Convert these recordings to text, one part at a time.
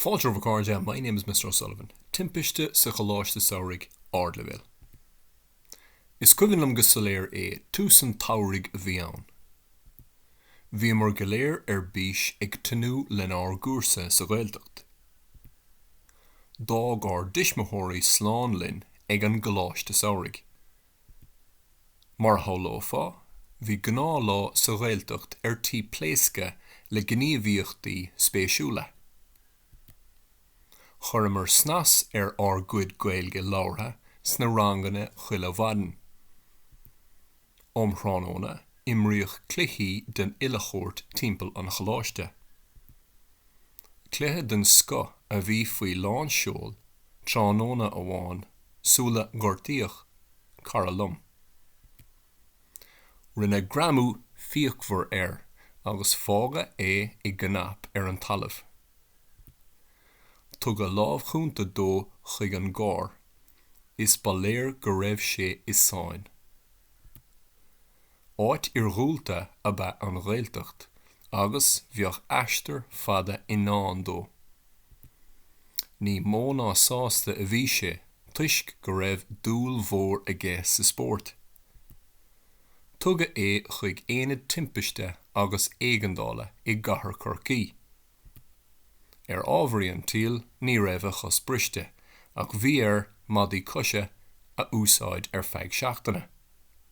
Fáilte romhaibh a chairde, My name is Mr O'Sullivan. Timpiste sa choláiste samhraidh ardleibhéil. Is cuimhin liom go soiléir é, tús an tsamhraidh a bhí ann. Bhíomar go léir ar bís ag tnúth lenár gcúrsa sa Ghaeltacht. D'fhág ár dtuismitheoirí slán linn ag an gcoláiste samhraidh. Mar a shamhlófá, bhí gnáthlá sa Ghaeltacht ar tí pléascadh le gníomhaíochtaí spéisiúla. Chuireamar snas ar ár gcuid Gaeilge labhartha sna ranganna chuile mhaidin. Um thráthnóna, imríodh cluichí den uile shórt timpeall an choláiste. Cluiche den scoth a bhí faoi lánseol tráthnóna amháin sular gortaíodh cara liom. Rinneadh greamú fíochmhar air agus fágadh é i gcnap ar an talamh. Tugadh lámh chúnta dó chuig an gcarr is ba léir go raibh sé i sáinn. Áit iarghúlta ab ea an Ghaeltacht agus bheadh aistear fada i ndán dó. Ní mó ná sásta a bhí sé toisc go raibh dúil mhór aige sa spórt. Tugadh é chuig Aonad Timpiste agus Éigeandála i gcathair Chorcaí. Ar ámharaí an tsaoil ní raibh a chos briste ach bhí air maidí coise a úsáid ar feadh seachtaine.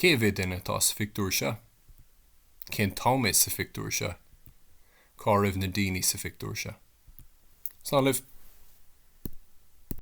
Cé mhéad duine atá sa phictiúr seo? Cén t-am é sa phictiúr seo? Cá raibh na daoine sa phictiúr seo? Slán libh.